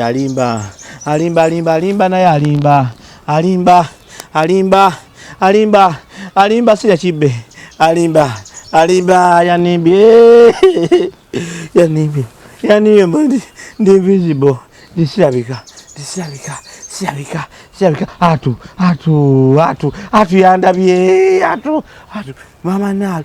alimba alimba alimba alimba naye alimba alimba alimba alimba alimba sirya kibbe alimba alimba yanimbye yanimbye yanimbye mbu ndi invisible ndisirabika ndisirabika sirabika sirabika atu atu atu atu yandabye atu atu mama nalu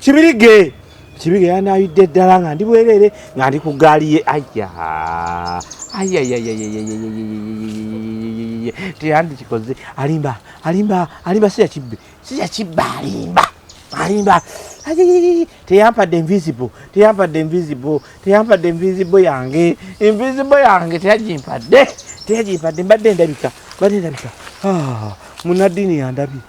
kibirige kibirige yanayidde ddala nga ndi bwereere nga ndi ku gaali ye aya teyandikikoze alimba alimba alimba sija kibbe sija kibba alimba alimba teyampadde invisible teyampadde invisible teyampadde invisible yange invisible yange teyagimpadde teyagimpadde mbadde ndabika mbadde ndabika ah, munaddiini yandabika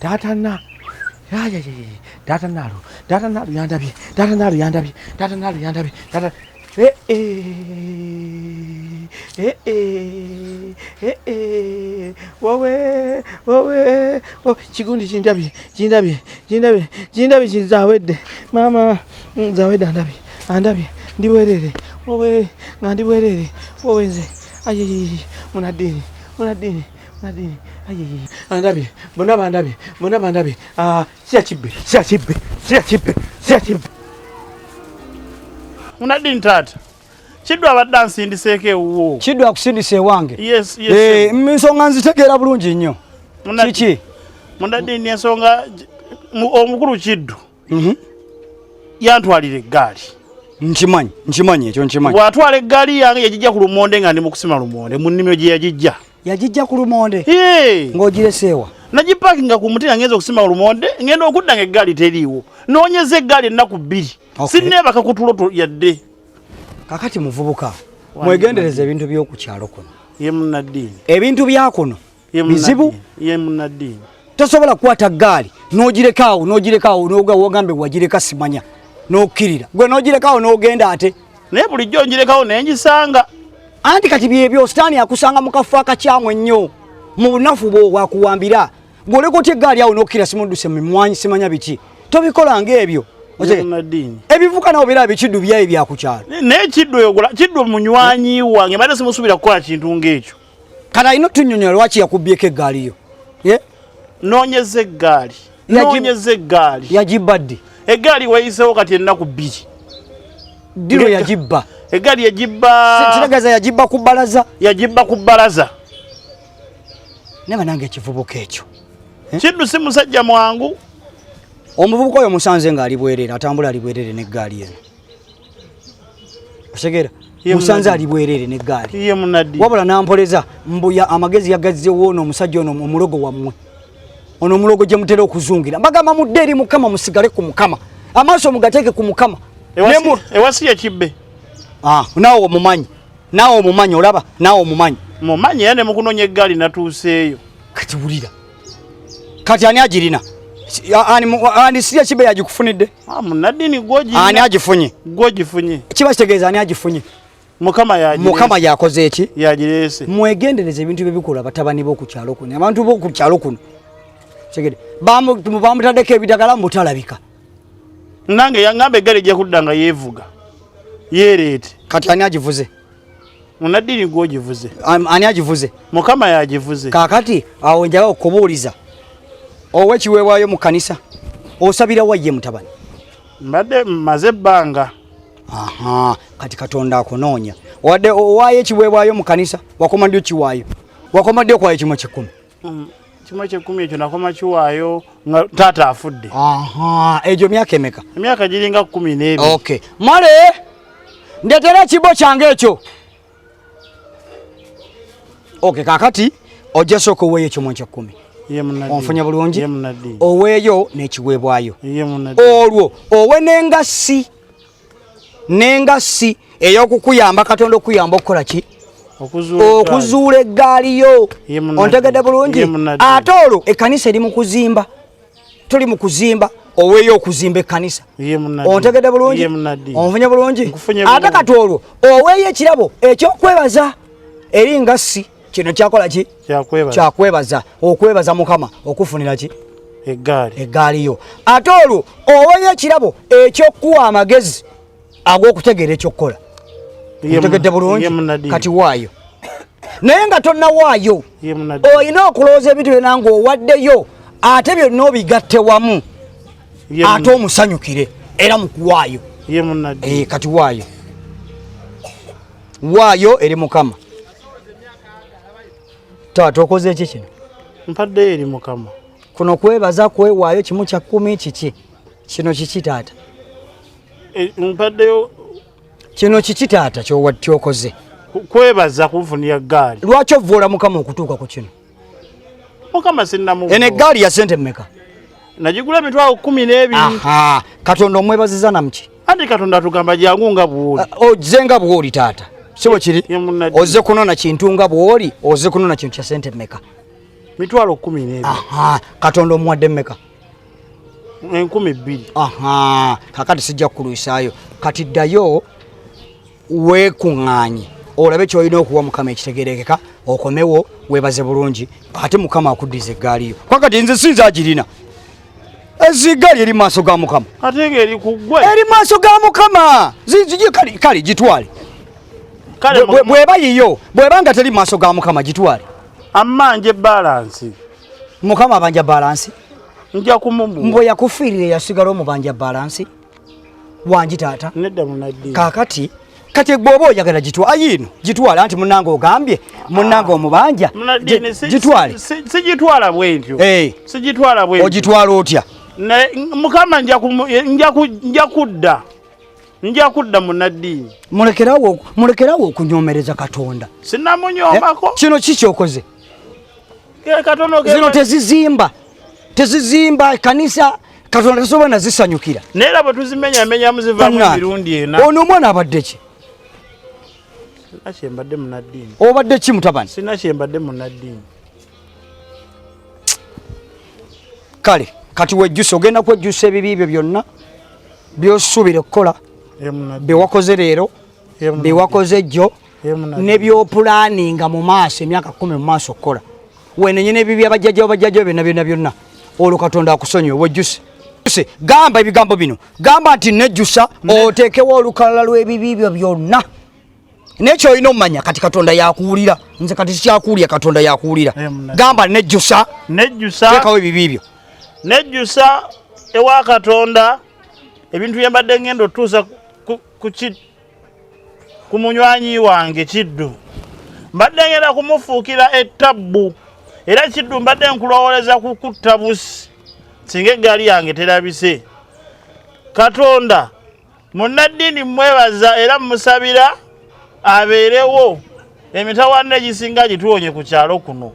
taata na taata naalo taata naalo yandabye taata naalo yandabye taata naalo yandabye taata eh, eh, eh, wowe wowe oh, kigundi kindabye kindabye kindabye kindabye kizawedde maama mm, zawedde andabye andabye ndi bwerere wowe nga ndi bwerere wowe nze ayi munaddiini munaddiini andabye bona bandabye bona bandabye ah, kya kibbe kya kibbe kya kibbe kya kibbe unadi ntata kidwa abadde ansindiseeko ewuwo kidwa akusindisa ewange eh, nsonga nzitegeera bulungi nnyo kiki mundadi ndi ensonga omukulu kiddu Mhm. Yantwalira eggaali. Nkimanyi, nkimanyi ekyo nkimanyi. Bw'atwala eggaali yange yagijja ku lumonde nga ndi mu kusima lumonde mu nnimiro gye yagijja. Yagijja ku lumonde? Yee. Ng'ogireseewa? Nagipakinga ku muti nga ng'enza okusima olumonde ng'enda okudda nga eggaali teriiwo. Noonyeza eggaali ennaku bbiri. Sinneebaka ku tulo yadde. Kakati muvubuka, mwegendereza ebintu by'oku kyalo kuno. Ye munnaddiini. Ebintu bya kuno. bizibu ye munaddiini tosobola kukwata ggaali n'ogirekaawo n'ogirekaawo n'ogambe wagireka simanya n'okkirira gwe n'ogirekaawo n'ogenda ate naye bulijjo njirekawo naye njisanga anti kati byebyo sitaani akusanga mu kafo akakyamu ennyo mu bunafu bwo wakuwambira gwoleka otya eggaali awo n'okkira simudduse mimwanyi simanya biki tobikola ng'ebyo ebivuka nawo bera bikiddu byaye byakukyalo naye kiddu oyogola kiddu munywanyi wange mbadde simusuubira kukola kintu ng'ekyo kati alina otunyonyola lwaki yakubbyeko eggaali yo nonyeza eggaali nonyeza eggaali yagibba ddi eggaali wayiseewo kati ennaku bbiri diro yagibba eggaali yagibba kiragaza yagibba ku bbalaza yagibba ku bbalaza naye banange ekivubuka ekyo eh? kintu si musajja mwangu omuvubuka oyo musanze ng'ali bwerere atambula ali bwerere n'eggaali eno otegera musanze ali bwerere ne gaali wabula nampoleza mbuya amagezi yagazzewo ono omusajja ono omulogo wammwe ono omulogo gye mutera okuzungira mbagamba mudde eri mukama musigale ku mukama amaaso mugateeke ku mukama ewasi yekibbe ah, naawe omumanyi naawe omumanyi olaba naawe omumanyi mumanyi era ne mukunoonya eggaali natuuseeyo kati wulira kati ani agirina ani si ekibe yagikufunidde ah, munaddini gwogirina ani agifunye gwogifunye kiba kitegeeza ani agifunye mukama yakoze eki mwegendereza ebintu byebikola batabani bokukyalo kuno abantu bokukyalo kuno bamutaddeko ebidagala mutalabika nange yangamba eggaali ejja kudda nga yeevuga yeereete kati ani agivuze munaddini gwogivuze ani agivuze mukama yagivuze kakati awo njaga okubuuliza owe kiweebwayo mu kanisa osabira wayye mutabani mbadde maze ebbanga aha kati katonda akunoonya wadde owaayo ekiweebwayo mu kanisa wakomadde okiwaayo wakomadde okwaayo kimu kikumi mm. kimu ekyekumi ekyo nakoma kiwaayo nga taata afudde egyo myaka emeka emyaka giringa kumi nebi okay. male ndetera ekibo kyange ekyo okay, kakati ojja sooka oweeyo ekimu ekyekumi onfunye bulungi oweeyo n'ekiweebwayo olwo owe n'engassi n'engassi ey'okukuyamba katonda okukuyamba okukola ki okuzuula eggaali yo ontegedde bulungi ate olwo ekkanisa eri mu kuzimba tuli mu kuzimba oweeyo okuzimba ekkanisa ontegedde bulungi onfunye bulungi ate kati olwo oweeyo ekirabo ekyokwebaza eri ngassi kino kyakola ki kyakwebaza okwebaza mukama okufunira ki eggaali yo ate olwo oweyo ekirabo ekyokuwa amagezi ag'okutegeera ekyokukola otegedde bulungi kati waayo naye nga tonnawaayo olina okulowooza ebintu byona nga owaddeyo ate byonna obigatte wamu ate omusanyukire era mukuwaayo eh, kati waayo waayo eri mukama taata okoze ki kino mpaddeyo eri mukama kuno kwebaza kwewaayo kimu kya kkumi kiki kino kiki taata e, mpaddeyo kino kiki taata kyokoze kwebaza kunfunira ggaali lwaki ovvoola mukama okutuuka ku kino mukama sinnamu eno eggaali ya sente mmeka nagigula emitwalo kumi n'ebiri katonda omwebaziza namuki anti katonda atugamba jangu nga bwoli ah, ozze oh, nga bwoli taata sibo kiri ozze kunona kintu nga bwoli ozze kunona kintu kya sente mmeka mitwalo kumi n'ebiri katonda omuwadde mmeka enkumi bbiri kakati sijja kukulwisaayo kati ddayo weekuŋŋaanye olabe kyolina okuwa mukama ekitegerekeka okomewo webaze bulungi ate mukama akuddiza eggaaliyo kwakati nze sinza agirina ezigali eri maaso ga mukama ate nga eri kugwe eri maaso ga mukama zinzigi kale kale gitwale bweba yiyo bweba nga teri maaso ga mukama gitwale amanje balansi mukama abanja balansi nja kumumu mbo yakufiirire yasigala omubanja balansi wangi taata kakati kati egwoba oyagala gitwa ayiino gitwala anti munange ogambye munange omubanja gitwale sigitwala bwentyo eh. sigitwala bwentyo ogitwala otya mukama nja kudda nja kudda munaddiini mulekerawo mulekerawo okunyomereza katonda sinamunyombako eh, kino kikyokoze eh, zino tezizimba tezizimba kanisa katonda tasobola nazisanyukira naye laba tuzimenyamenyamu zivamu emirundi ena ono omwana abadde ki sinakyembadde munaddiini obadde ki mutabani sinakyembadde munaddiini kale kati wejjusa ogenda kwejjusa ebibi byo byonna byosuubira okukola byewakoze leero byewakoze jjo nebyopulaninga mu maaso emyaka kumi mu maaso okukola wenenye nebibya bajjajja bajjajja byonna byonna byonna olwo katonda akusonyiwe wejjuse se gamba ebigambo bino gamba nti nejjusa oteekewo olukalala lw'ebibi byo byonna nekyo olina omumanya kati katonda yakuwulira nze kati sikyakuwulira katonda yakuwulira eh, gamba nejjusa teekawo ebibi byo nejjusa ewa katonda ebintu byembadde ngenda otuusa ku munywanyi wange kiddu mbadde ngenda kumufuukira ettabbu era kiddu mbadde nkulowooleza ku kutta busi singa eggaali yange terabise katonda munnaddiini mmwebaza era mmusabira abeerewo emitawanna egisinga gituwonye ku kyalo kuno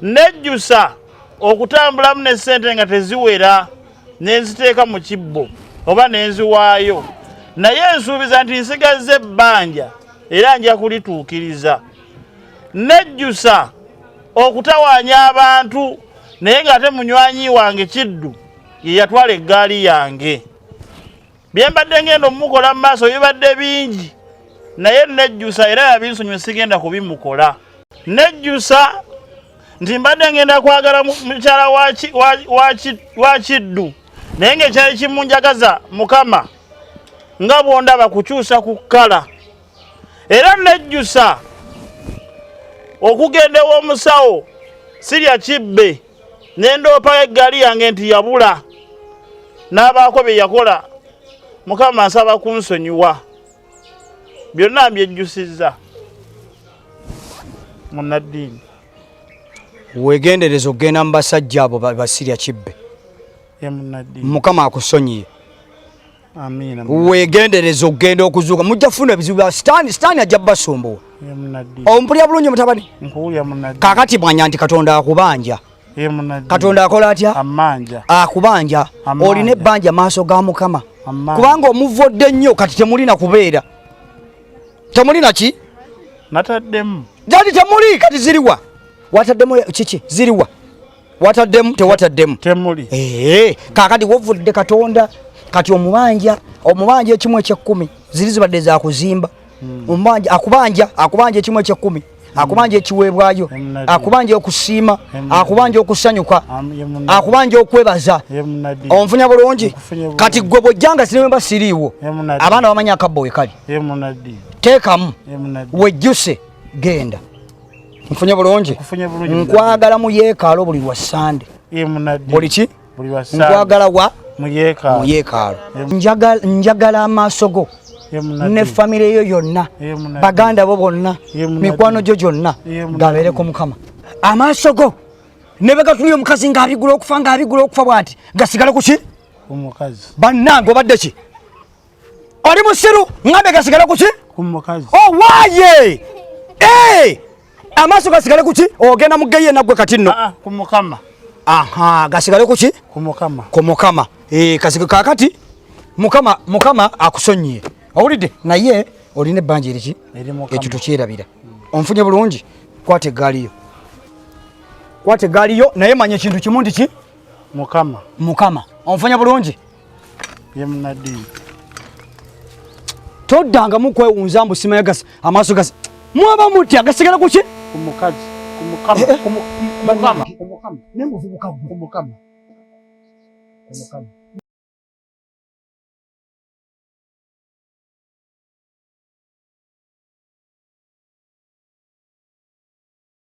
nejjusa okutambulamu ne ssente nga teziwera ne nziteeka mu kibbo oba ne nziwaayo naye nsuubiza nti nsigazza ebbanja era nja kulituukiriza nejjusa okutawaanya abantu naye ng'ate munywanyi wange kiddu ye yatwala eggaali yange bye mbadde ng'enda omukola mu maaso bibadde bingi naye nejjusa era yabinsonyiwa sigenda kubimukola nejjusa nti mbadde ngenda kwagala mukyala wa kiddu naye ngaekyali kimunjagaza mukama nga bwondaba kukyusa ku kkala era nejjusa okugenda ew'omusawo sirya kibbe ne ndoopayo eggaali yange nti yabula n'abaako bye yakola mukama nsaba kunsonyiwa byonna mbyejjusizza munaddiini wegendereza okugenda mu basajja abo basirya kibbe mukama akusonyiye wegendereza okugenda okuzuuka mujja kufuna ebizibu bya sitaani sitaani ajja basumbuwa ompulira bulungi mutabani kakati mwanya nti katonda akubanja katonda akola atya akubanja olina ebbanja maaso ga mukama kubanga omuvodde nnyo kati temulina kubeera temulina ki nataddemu jali temuli kati ziriwa wataddemu kiki ziriwa wataddemu tewataddemu temuli eh kakati wovudde katonda kati omubanja omubanja ekimu ekyekumi ziri zibadde za kuzimba hmm. omubanja akubanja akubanja ekimu ekyekumi hmm. akubanja ekiweebwayo akubanja okusiima akubanja okusanyuka akubanja okwebaza onfunya bulungi kati gwe bwojjanga sinewemba siriiwo abaana bamanya akabbo wekali teekamu wejjuse genda nfunye bulungi nkwagala mu yeekaalo buli lwa sande buli ki nkwagala wa mu yeekaalo njagala amaaso go ne famire yo yonna baganda bo bonna mikwano gyo gyonna gabeere ku mukama amaaso go ne begatunye omukazi ng'abigula okufa ng'abigula okufa bwati gasigale ku ki bannange obadde ki oli musiru ngambe gasigale kuki kumukazi owaye oh, eh! amaaso gasigale kuki ogenda mugeye nagwe kati nno ah, ah, kumukama aha gasigale kuki kumukama kumukama eh, kasiga kakati mukama mukama akusonyiye owulidde naye olina ebbanja eriki ekyo tukyerabira onfunye bulungi kwata eggaaliyo kwata eggaaliyo naye manya ekintu kimu nti ki mukama mukama onfunye bulungi ye munadiini toddangamu kwewunza mbu simaye gasi amaaso gasi mwaba muti agasigala kuki kumukazi kumukama eh, kumukama kumukama ne muvubuka kumukama kumukama